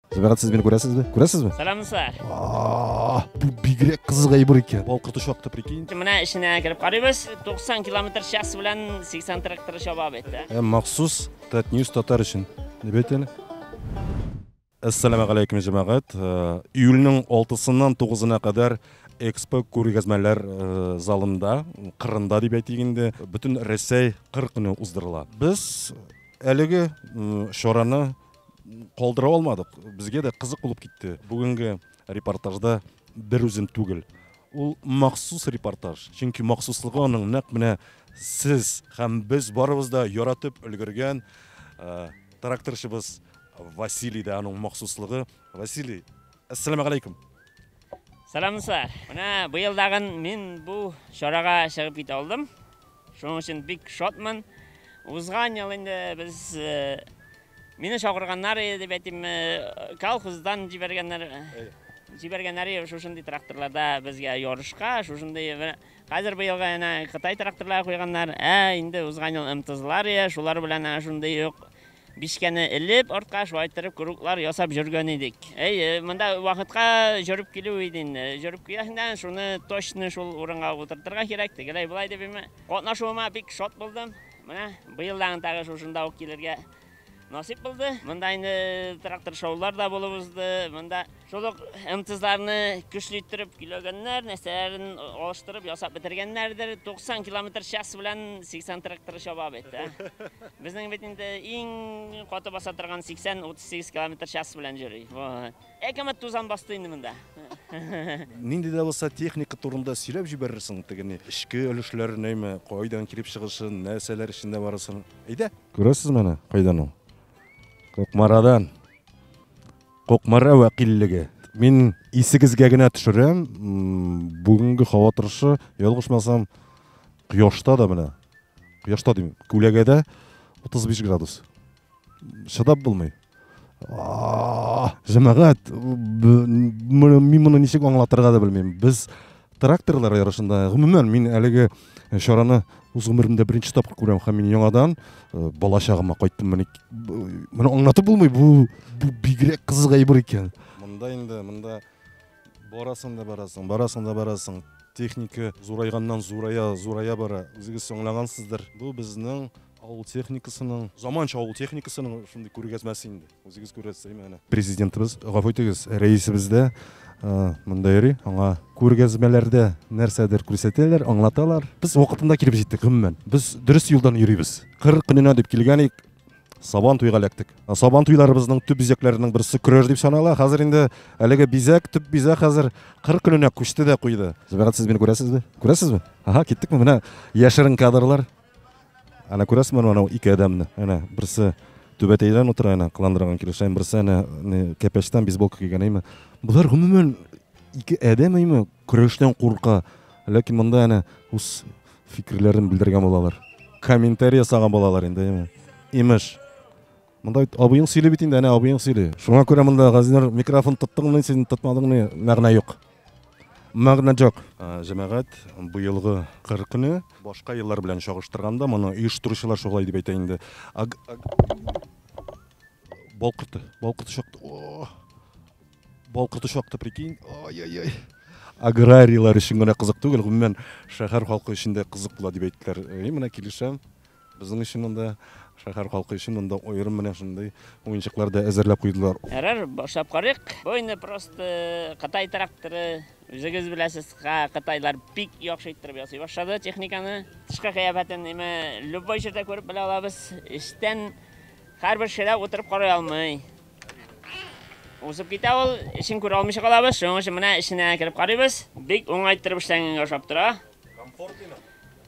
Зөбәрат, сез мине күрәсезме? Күрәсезме? Сәлам, сэр. Ааа, бу бигрәк кызык әйбер икән. Бал кырты чакты, прикинь. Менә эченә кереп карыйбыз. 90 километр час белән 80 трактор чаба бит. Ә махсус Татньюс татар өчен. Дип әйтәле. Әссәламә галәйкүм җәмәгать. Э, июльнең 6-сыннан 9-на кадәр экспо күргәзмәләр э, залында, кырында дип әйтик инде, бөтен Рәсәй кыр көне уздырыла. Без әлеге чараны калдыра алмадык. Безгә дә кызык булып китте. Бүгенге репортажда бер үзем түгел. Ул махсус репортаж, чөнки махсуслыгы аның нәкъ менә сез һәм без барыбыз да яратып өлгергән тракторчыбыз Василий да аның махсуслыгы. Василий, әссәламәгаләйкүм. Сәламсызлар. Менә быел дагын мин бу чарага чыгып китә алдым. Шуның өчен бик шатмын. Узган ел инде без э, мине чакырганнар иде дип әйтим, э, колхоздан җибәргәннәр. Э, җибәргәннәр иде шушындый тракторларда безгә ярышка, шушындый менә хәзер быелга әнә Кытай тракторлары куйганнар. Ә инде узган ел МТЗлар иде, шулар белән әнә шундый юк Бишкәне элеп, артка шулай иттереп круглар ясап җөргән идек. Әйе, монда вакытка җөреп килү иде инде. Җөреп киләһендән шуны точно шул урынга утыртырга кирәк, тегеләй булай дип имә. Катнашуыма бик шат булдым. Менә быел да тагы шушында ук килергә насыйп булды. Монда инде трактор шоулар да булып узды. Монда Шул ук МТЗларны көчле иттереп көйләгәннәр, нәрсәләрен алыштырып ясап бетергәннәрдер. 90 километр час белән 80 тракторы чаба бит. Ә? Безнең бит инде иң каты баса торган 80-38 километр час белән йөри. Әкәмәт тузан басты инде монда. Нинди дә булса техника турында сөйләп җибәрерсең, тегене эчке өлешләр нәйме, кайдан килеп чыгышын, нәрсәләр эчендә барысын. Әйдә. Күрәсез менә кайдан ул? Кукмарадан. Кукмара вәкиллеге. Мин исегезгә генә төшерәм, бүгенге һава торышы, ялгышмасам, кояшта да менә, кояшта дим, күләгәдә 35 градус. Чыдап булмый. Җәмәгать, мин моны ничек аңлатырга да белмим. Без Тракторлар ярышында, гомумән, мин әлеге э, чараны үз гомеремдә беренче тапкыр күрәм һәм мин яңадан э, бала чагыма кайттым. Менә моны аңлатып булмый, бу бу бигрәк кызык әйбер икән. Монда инде, монда барасың да барасың, барасың да барасың. Техника зурайганнан зурая, зурая бара. Үзегез аңлагансыздыр. Бу безнең авыл техникасының, заманча авыл техникасының шундый күргәзмәсе инде. Үзегез күрәсез, әйме әнә. Президентыбыз, гафу итегез, рәисебез дә монда йөри, аңа күргәзмәләрдә нәрсәдер күрсәтәләр, аңлаталар. Без вакытында килеп җиттек, гомумән. Без дөрес юлдан йөрибез. Кыр көненә дип килгән идек, сабан туйга эләктек. Сабан туйларыбызның төп бизәкләренең берсе көрәш дип санала. Хәзер инде әлеге бизәк, төп бизәк хәзер кыр көненә күчте дә куйды. Зөбәрәт, сез мине күрәсезме? Күрәсезме? Ага, киттекме? Менә яшерен кадрлар. Әнә күрәсезме аны анау ике адәмне? Әнә берсе түбәтәйдән утыра әнә кыландырган килеш, әнә берсе әнә кәпәчтән бейсболка кигән әйме. Болар гомумән ике адәм әйме көрәштән курка. Ләкин монда әнә үз фикерләрен белдергән булалар. Комментарий ясаган булалар инде әйме. Имеш. Монда бит абыең сөйли бит инде, әнә абыең сөйли. Шуңа күрә монда газинер микрофон тоттыңмы, син тотмадыңмы, мәгънә юк. Мәгънә җок. Җәмәгать быелгы кыр көне башка еллар белән чагыштырганда моны оештыручылар шулай дип әйтә инде. Аг... Балкырты, балкырты шакты. О! Балкырты шакты, прикинь. Ай-яй-яй. Аграрийлар өчен генә кызык түгел, гомумән шәһәр халкы өчен дә кызык була дип әйттеләр. И, менә килешәм. Безнең өчен монда, шәһәр халкы өчен монда аерым менә шундый уенчыклар да әзерләп куйдылар. Ярар, башлап карыйк. Бу инде просто Кытай тракторы. Үзегез беләсез, кытайлар бик яхшы иттереп ясый башлады техниканы. Тышкы кыяфәтен име любой җирдә күреп белә алабыз. Эчтән һәрбер кеше дә утырып карый алмый. Узып китә ул, эчен күрә алмыйча калабыз. Шуның өчен менә эченә кереп карыйбыз. Бик уңай иттереп эшләнгәнгә ошап тора. Комфортлымы?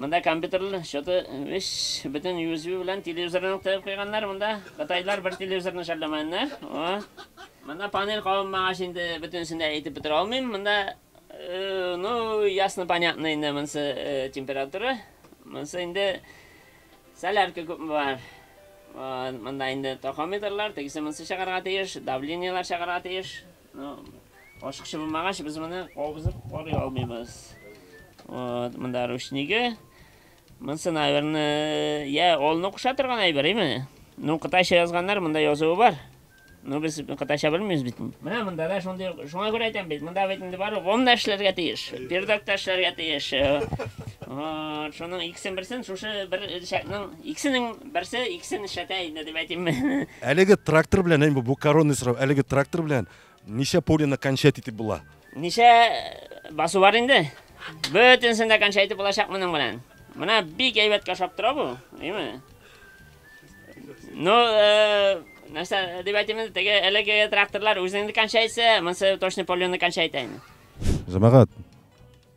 Монда компьютер счеты биш, бөтен USB белән телевизорны ук тыгып куйганнар монда. Кытайлар бер телевизорны шәрләмәгәннәр. Монда панель кабынмагач инде бөтенесен дә әйтеп бетерә алмыйм. Монда э, ну ясно понятно инде монсы э, температура. Монсы инде солярка күпме бар. Монда инде тахометрлар, тегесе монсы чыгарга тиеш, давлениелар чыгарга тиеш. Ашыкчы булмагач, без моны кабызып карый алмыйбыз. Вот, монда ручниге. Монсы, наверное, я олны куша торган әйбер, име? Ну, кытайча язганнар, монда язуы бар. Ну, без кытайча белмибез бит. Менә монда да шундый, шуңа күрә әйтәм бит, монда бит инде бар, гом эшләргә тиеш, пердак та эшләргә тиеш. Вот, шуның икесен берсен шушы бер шәкнең Икесенең берсе икесен эшләтә инде дип әйтимме? Әлеге трактор белән, әй, бу, бу коронный сорау, әлеге трактор белән ничә полено кончать итеп була? Ничә басу бар инде? Бөтенсен дә кончать итеп булачак моның белән. Менә бик әйбәт кашап тора бу, әйме? Ну, э, нәрсә дип әйтимме, теге әлеге тракторлар үзеңне кончайтса, монсы точно полено кончайта инде. Җәмәгать,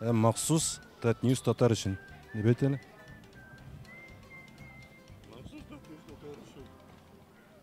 Ә махсус Татньюс татар өчен. Дип әйт әле.